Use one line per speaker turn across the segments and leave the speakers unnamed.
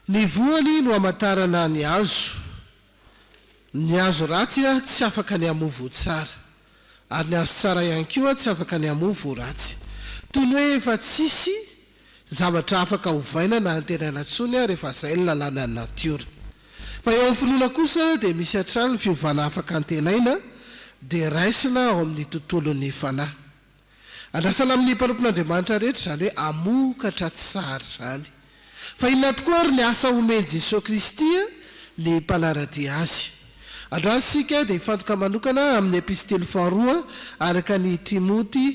Ny voany no amantarana ny hazo. Ny hazo ratsy tsy afaka ny hamoa voa tsara. Ary ny hazo tsara ihany koa tsy afaka ny hamoa voa ratsy. Toy ny hoe efa tsisy zavatra afaka ovaina na antenaina intsony ary efa izay ny lalànan'ny natiora. Fa eo amin'ny finoana kosa dia misy hatrany ny fiovana afaka antenaina dia raisina ao amin'ny tontolon'ny fanahy. Andrasana amin'ny mpanompon'Andriamanitra rehetra izany hoe hamokatra tsy zary izany. Fa inona tokoa ary ny asa omen'i Jesoa Kristy ny mpanara-dia Azy? Androany isika dia hifantoka manokana amin'ny Epistily faharoa araka an'i Timoty,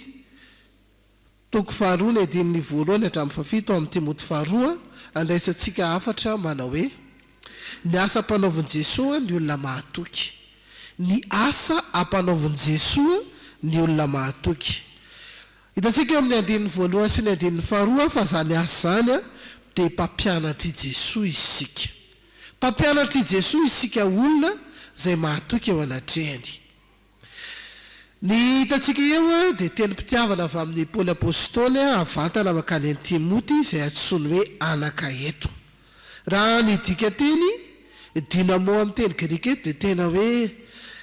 toko faharoa ny andininy voalohany hatramin'ny fahafito ao amin'ny Timoty faharoa, andraisantsika hafatra manao hoe. Ny asa ampanaovin'i Jesoa ny olona mahatoky. Ny asa ampanaovin'i Jesoa ny olona mahatoky. Hitantsika eo amin'ny andininy voalohany sy ny andininy faharoa fa izany asa izany dia mpampianatr'i Jesoa isika. Mpampianatr'i Jesoa isika olona izay mahatoky eo anatrehany. Ny hitantsika eo dia tenim-pitiavana avy amin'i Paoly Apostoly havantana mankany amin'i Timoty izay antsoiny hoe anaka eto. Raha ny dikanteny dynamo amin'ny teny grika eto dia tena hoe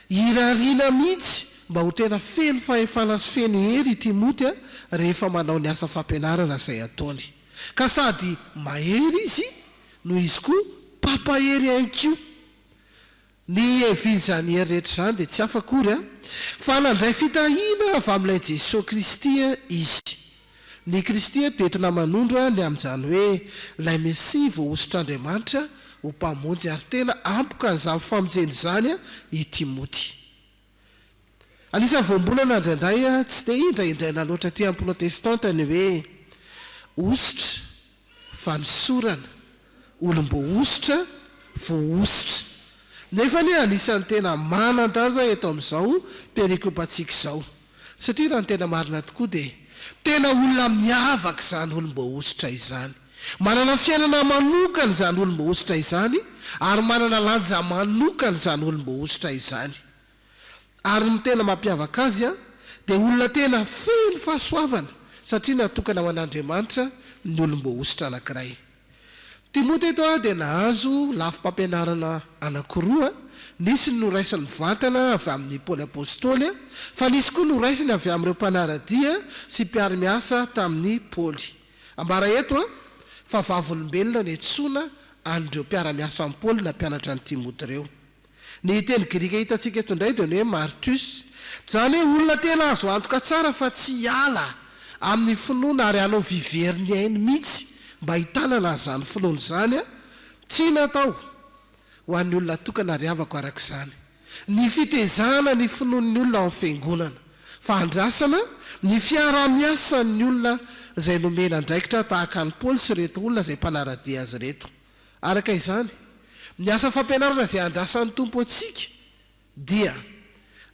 irariana mihitsy mba ho tena feno fahefana sy feno hery i Timoty rehefa manao ny asa fampianarana izay ataony. Ka sady mahery izy no izy koa mpampahery ihany koa. Ny hevin'izany hery rehetra izany dia tsy hafa akory fa nandray fitahiana avy amin'ilay Jesoa Kristy izy. Ny Kristy eto dia entina manondro ny amin'izany hoe ilay Mesia voahosotr'Andriamanitra ho Mpamonjy ary tena ampoka an'izany famonjena izany i Timoty. Anisan'ny voambolana indraindray tsy dia indraindraina loatra aty amin'ny Protestanta ny hoe hosotra, fanosorana, olom-boahosotra, voahosotra. Nefa anie anisan'ny tena manan-danja eto amin'izao perikopantsika izao. Satria raha ny tena marina tokoa dia tena olona miavaka izany olom-boahosotra izany. Manana fiainana manokana izany olom-boahosotra izany ary manana lanja manokana izany olom-boahosotra izany. Ary ny tena mampiavaka azy dia olona tena feno fahasoavana satria natokana ho an'Andriamanitra ny olom-boahosotra anankiray. Timoty eto dia nahazo lafim-pampianarana anankiroa, nisy ny noraisiny mivantana avy amin'i Paoly Apostoly, fa nisy koa noraisiny avy amin'ireo mpanara-dia sy mpiara-miasa tamin'i Paoly. Ambara eto fa vavolombelona niantsoana an'ireo mpiara-miasa amin'i Paoly na mpianatra an'i Timoty ireo. Ny teny grika hitantsika eto indray dia ny hoe martus, izany hoe olona tena azo antoka tsara fa tsy hiala amin'ny finoana ary hanao vy very ny ainy mihitsy mba hitanana an'izany finoana izany, tsy natao ho an'ny olona tokana ary havako araka izany. Ny fitezana ny finoan'ny olona ao amin'ny Fiangonana, fa andrasana ny fiaraha-miasan'ny olona izay nomena andraikitra tahaka an'i Paoly sy ireto olona izay mpanara-dia azy ireto. Araka izany, ny asa fampianarana izay andrasan'ny Tompo antsika dia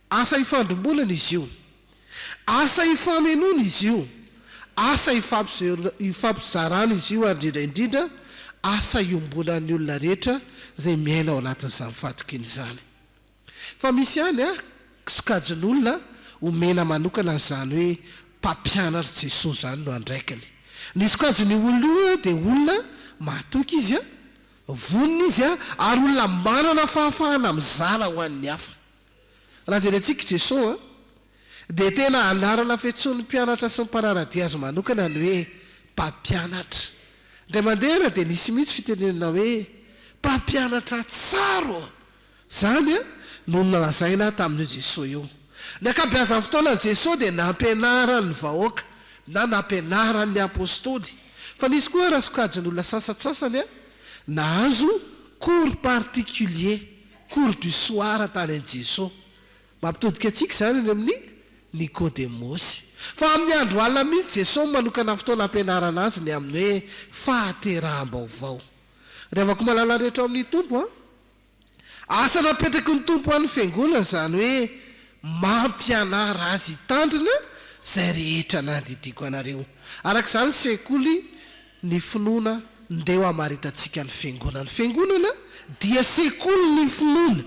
asa ifandrimbonana izy io. Asa ifamenoana izy io, asa ifampizarana izy io ary indrindra indrindra asa iombonan'ny olona rehetra izay miaina ao anatin'izany fahatokiana izany. Fa misy ihany an, sokajin'olona omena manokana an'izany hoe mpampianatr'i Jesoa izany no andraikiny. Ny sokajin'io olona io an, dia olona mahatoky izy an, vonona izy an, ary olona manana fahafahana mizara ho an'ny hafa. Raha jerentsika i Jesoa dia tena anarana fiantsoan'ny mpianatra sy ny mpanara-dia azy manokana ny hoe Mpampianatra. Indray mandeha ary dia nisy mihitsy fitenenana hoe Mpampianatra tsara ô! Izany no nolazaina tamin'io Jesoa io. Ny ankabeazan'ny fotoanan'i Jesoa dia nampianarany ny vahoaka na nampianarany ny Apostoly. Fa nisy koa ara-sokajin'olona sasantsasany nahazo cours particulier. Cours du soir tany an'i Jesoa. Mampitodika antsika izany any amin'i Nikodemosy. Fa amin'ny andro alina mihitsy Jesoa no manokana fotoana hampianarana azy ny amin'ny hoe fahateraham-baovao. Ry havako malala rehetra ao amin'ny Tompo a! Asa napetraky ny Tompo ho an'ny Fiangonana izany hoe mampianara azy hitandrina izay rehetra nandidiako anareo. Araka izany ny sekoly ny finoana ndeha ho hamaritantsika ny Fiangonana. Ny Fiangonana dia sekoly ny finoana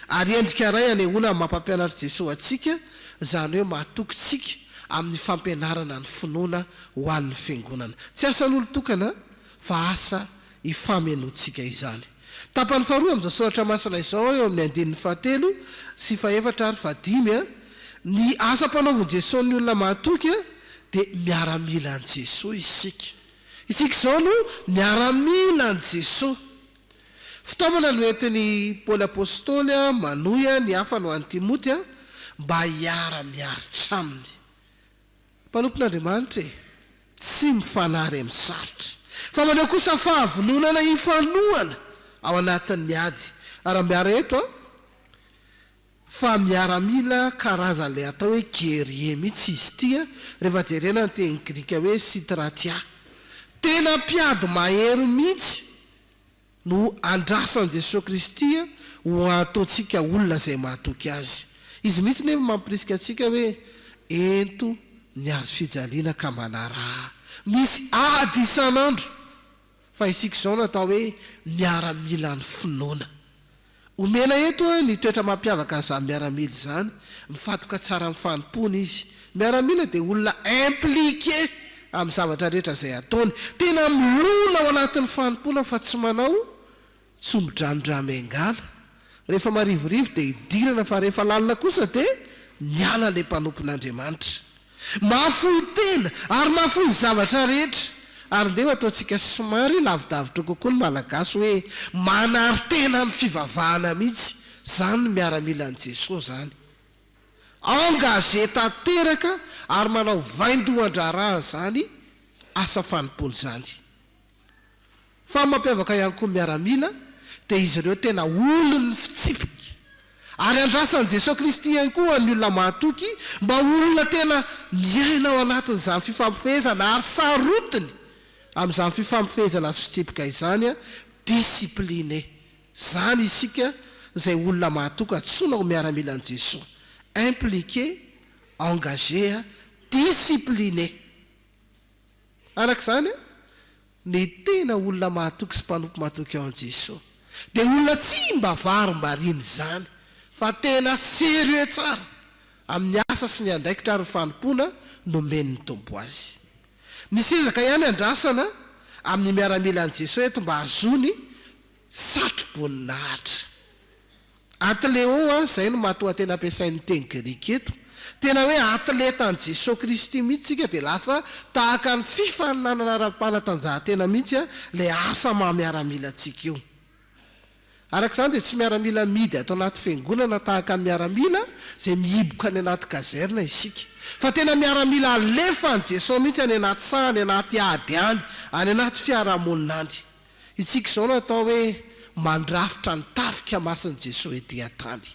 ary endrika iray anehoana ny maha-mpampianatr'i Jesoa antsika, izany hoe mahatokintsika amin'ny fampianarana ny finoana ho an'ny Fiangonana. Tsy asan'olon-tokana fa asa ifamenoantsika izany. Tapany faharoa amin'izao soratra masina izao eo amin'ny andininy fahatelo sy fahefatra ary fahadimy, Ny asa ampanaovin'i Jesoa ny olona mahatoky dia miaramila an'i Jesoa isika. Isika izao no miaramila an'i Jesoa. Fitaomana no entin'i Paoly Apostoly manohy ny hafany ho an'i Timoty mba hiara-miaritra aminy. Mpanompon'Andriamanitra e! Tsy mifanary amin'ny sarotra. Fa maneho kosa fahavononana hifanohana ao anatin'ny ady. Arambiara eto an! Fa miaramila karazan'ilay atao hoe guerrier mihitsy izy ity an! Rehefa jerena ny teny grika hoe sitratia. Tena mpiady mahery mihitsy. no andrasan'i Jesoa Kristy ho ataontsika olona izay mahatoky Azy. Izy mihitsy nefa mampirisika antsika hoe, Ento ny hazofijaliana ka manaraha. Misy ady isan'andro, fa isika izao natao hoe miaramilan'ny finoana. Omena eto ny toetra mampiavaka an'izany miaramila izany, mifantoka tsara amin'ny fanompoany izy. Ny miaramila dia olona impliqué amin'ny zavatra rehetra izay ataony. Tena milona ao anatin'ny fanompoana fa tsy manao tsombidranondramengala. Rehefa marivorivo dia idirana fa rehefa lalina kosa dia miala ilay mpanompon'Andriamanitra. Mahafoy tena ary mahafoy ny zavatra rehetra. Ary ndeha ho ataontsika somary lavidavitra kokoa ny Malagasy hoe manary tena amin'ny fivavahana mihitsy izany ny miaramilan'i Jesoa izany. Engagé tanteraka ary manao vaindohan-draharaha izany asa fanompoana izany. Fa ny mampiavaka ihany koa ny miaramila dia izy ireo tena olon'ny fitsipika. Ary andrasan'i Jesoa Kristy ihany koa ny olona mahatoky mba ho olona tena miaina ao anatin'izany fifampifehezana ary sarotiny amin'izany fifampifehezana sy fitsipika izany, discipline. Izany isika izay olona mahatoky antsoina ho miaramilan'i Jesoa, impliqué, engagé, discipliné. Araka izany, ny tena olona mahatoky sy mpanompo matoky ao amin'i Jesoa dia olona tsy mba varimbariana izany fa tena sérieux tsara amin'ny asa sy ny andraikitra ary ny fanompoana nomen'ny Tompo azy. Misy ezaka ihany andrasana amin'ny miaramilan'i Jesoa eto mba hahazoany satroboninahitra. Athleo a, izay no matoanteny ampiasain'ny teny grika eto. Tena hoe athleta an'i Jesoa Kristy mihitsy isika dia lasa tahaka ny fifaninanana ara-panatanjahantena mihitsy ilay asa maha miaramila antsika io. Araka izany dia tsy miaramila amidy ato anaty fiangonana tahaka ny miaramila izay mihiboka any anaty kazerna isika, fa tena miaramila alefan'i Jesoa mihitsy any anaty saha, any anaty ady any, any anaty fiarahamonina any. Isika izao no atao hoe mandrafitra ny tafika masin'i Jesoa ety an-tany.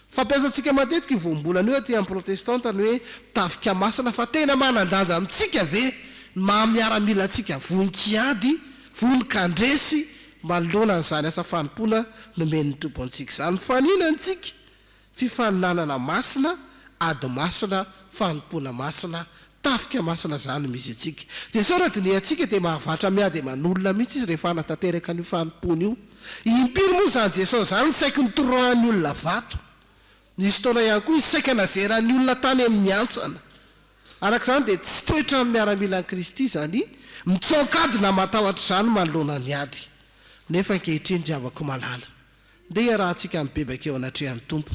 Fampiasantsika matetika io voambolana io aty amin'ny Protestanta ny hoe tafika masina fa tena manan-danja amintsika ve ny maha miaramilantsika vonon-kiady, vonon-kandresy manoloana an'izany asa fanompoana nomen'ny Tompo antsika izany? Mifanina ny tsika Fifaninanana masina, ady masina, fanompoana masina, tafika masina izany misy antsika. Jesoa raha dinihantsika dia mahavatra miady aman'olona mihitsy Izy rehefa hanatanteraka an'io fanompoana io. Impiry moa izany Jesoa izany no saiky nitoroahan'ny olona vato? Nisy fotoana ihany koa Izy saika nazeran'ny olona tany amin'ny hantsana. Araka izany dia tsy toetra amin'ny miaramilan'i Kristy izany mitsoaka ady na matahotra izany manoloana ny ady. Nefa ankehitriny ry havako malala. Ndeha iarahantsika mibebaka eo anatrehan'ny Tompo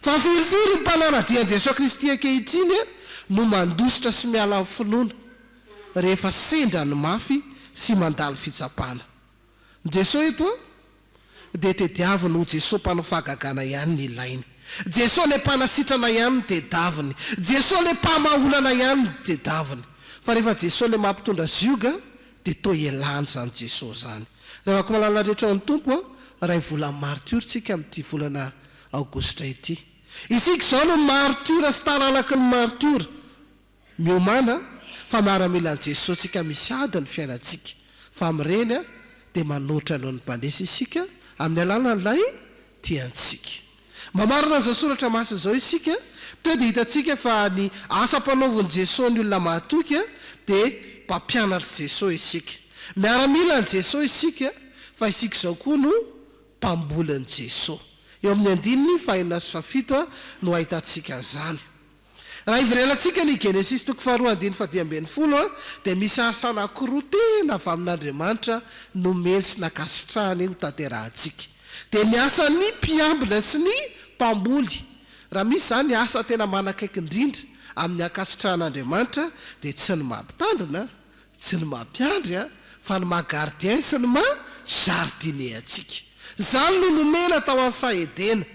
fa firy firy ny mpanara-dia an'i Jesoa Kristy ankehitriny no mandositra sy miala amin'ny finoana rehefa sendra ny mafy sy mandalo fitsapana. Ny Jesoa eto dia tediaviny ho Jesoa mpanao fahagagana ihany ny ilainy. Jesoa ilay mpanasitrana ihany no tedaviny. Jesoa ilay mpamaha olana ihany no tedaviny. Fa rehefa Jesoa ilay mampitondra zioga Dia toa ialany izany Jeso izany. Ravako malalna rehetra ao amin'ny Tompo a, ray volan'ny martiora tsika amin'ity volana aogositra ity. Isika izao no martiora sy taranaky ny martiora. Miomana fa miaramila an'i Jeso tsika misy ady ny fiainantsika. Fa amin'ireny dia manoatra noho ny mpanesa isika amin'ny alalan'ilay tiantsika. Mamarana izao soratra masina izao isika, teo dia hitantsika fa ny asa ampanaovin'i Jesoa ny olona mahatoky dia mpampianatr'i Jesoa isika. Miaramila an'i Jesoa isika, fa isika izao koa no mpambolin'i Jesoa. Eo amin'ny andininy fahenina sy fahafito no ahitantsika an'izany. Raha hiverelantsika ny Genesisy toko faharoa andininy fahadimy ambin'ny folo dia misy asa anankiroa tena avy amin'Andriamanitra nomeny sy nankasitrahany ho tanterahantsika. Dia ny asan'ny mpiambina sy ny mpamboly. Raha misy izany ny asa tena manakaiky indrindra amin'ny ankasitrahan'Andriamanitra dia tsy ny mampitandrina Tsy ny maha mpiandry an, fa ny maha gardien sy ny maha jardinier antsika. Izany no nomena tao an'i Saha Edena.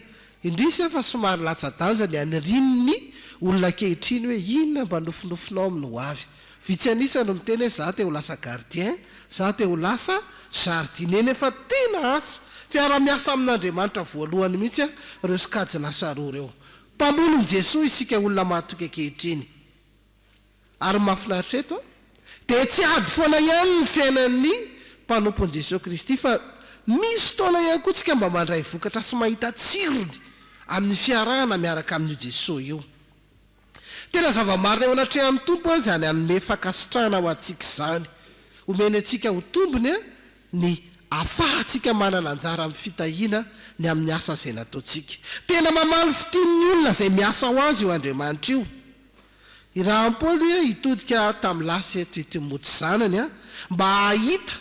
Indrisy an fa somary latsa-danja ny anirian'ny olona ankehitriny hoe inona mba nofinofinao amin'ny ho avy. Vitsy an'isa no miteny hoe za te ho lasa gardien, za te ho lasa jardinier nefa tena asa fiara-miasa amin'Andriamanitra voalohany mihitsy an ireo sokajin'asa roa ireo. Mpamolon'i Jesoa isika olona mahatoky ankehitriny. Ary ny mahafinaritra eto dia tsy ady foana ihany ny fiainan'ny mpanompo an'i Jesoa Kristy fa misy fotoana ihany koa tsika mba mandray vokatra sy mahita tsirony amin'ny fiarahana miaraka amin'io Jesoa io. Tena zava-marina eo anatrehan'ny Tompo aza izany hanome fankasitrahana ho antsika izany. Omeny antsika ho tombony ny afahantsika manana anjara amin'ny fitahiana ny amin'ny asa izay nataontsika. Tena mamaly fitin'ny olona izay miasa ho Azy io Andriamanitra io. I Rahampolo ia hitodika tamin'ny lasa eto i Timoty zanany a, mba hahita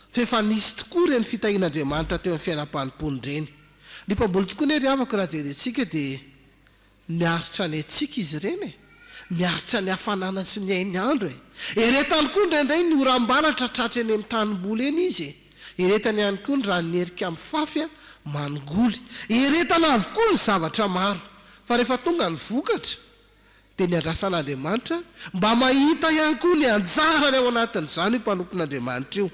fa efa nisy tokoa ireny fitahian'Andriamanitra teo amin'ny fiainam-panompoany ireny. Ny mpamboly tokoa anie ry havako raha jerentsika dia miaritra ny haitsika izy ireny e! Miaritra ny hafanana sy ny hain'ny andro e! Eretany koa indraindray ny oram-baratra tratry eny amin'ny tanimboly eny izy e! Eretana ihany koa ny ran'ny herika mifafy manongoly. Eretana avokoa ny zavatra maro. Fa rehefa tonga ny vokatra, dia ny andrasan'Andriamanitra mba mahita ihany koa ny anjarany ao anatin'izany io mpanompon'Andriamanitra io.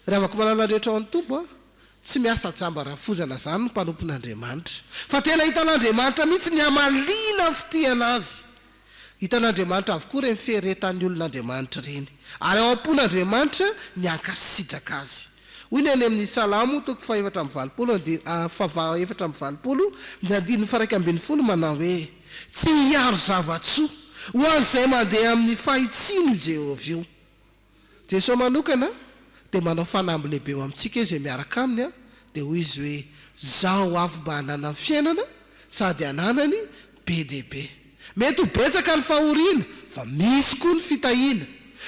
Ry havako-manana rehetra ao an-toby an! Tsy miasa jamba rafozana izany ny mpanompon'Andriamanitra. Fa tena hitan'Andriamanitra mihitsy ny hamaliana fitiana Azy. Hitan'Andriamanitra avokoa ireny fieretan'ny olon'Andriamanitra ireny, ary ao am-pon'Andriamanitra ny hankasitraka Azy. Hoy ny any amin'ny Salamo toko fahefatra amby valopolo andi, fav, efatra amby valopolo, ny andininy faharaika ambin'ny folo manao hoe, Tsy hiaro zava-tsoa ho an'izay mandeha amin'ny fahitsiana io Jehovah io. Jesoa manokana dia manao fanamby lehibe eo amintsika izay miaraka Aminy dia hoy Izy hoe, Zaho avy mba hananany fiainana sady hananany be dia be. Mety ho betsaka ny fahoriana fa misy koa ny fitahiana.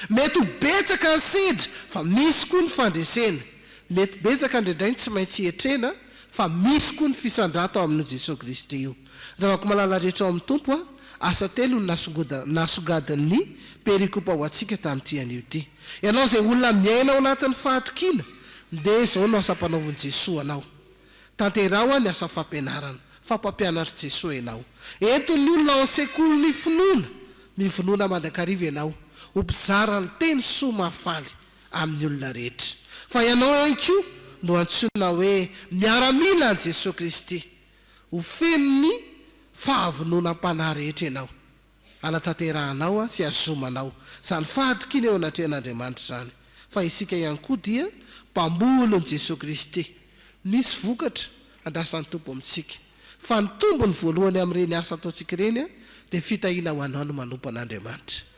Mety ho betsaka ny sedra fa misy koa ny fandresena. Mety betsaka indraindray ny tsy maintsy hetrena fa misy koa ny fisandrata ao amin'io Jesoa Kristy io. Ravako malala rehetra ao amin'ny Tompo a! Asa telo no nasongadin'ny perikopa ho antsika tamin'ity anio ity. Ianao izay olona miaina ao anatin'ny fahatokiana dia izao no asa ampanaovin'i Jesoa anao. Tanteraho ny asa fampianarana fa mpampianatr'i Jesoa ianao. Ento ny olona ao amin'ny sekolin'ny finoana mivonoana mandrakariva ianao ho mpizara ny teny soa mahafaly amin'ny olona rehetra, fa ianao ihany koa no antsoina hoe miaramila an'i Jesoa Kristy. Ho feno ny fahavononam-panahy rehetra ianao, hanatanterahanao sy hazomanao izany fahatokiana eo anatrehan'Andriamanitra izany, fa isika ihany koa dia mpamolon'i Jesoa Kristy. Misy vokatra andrasan'ny Tompo amintsika, fa ny tombony voalohany amin'ireny asa ataontsika ireny dia fitahiana ho anao ny manompo an'Andriamanitra.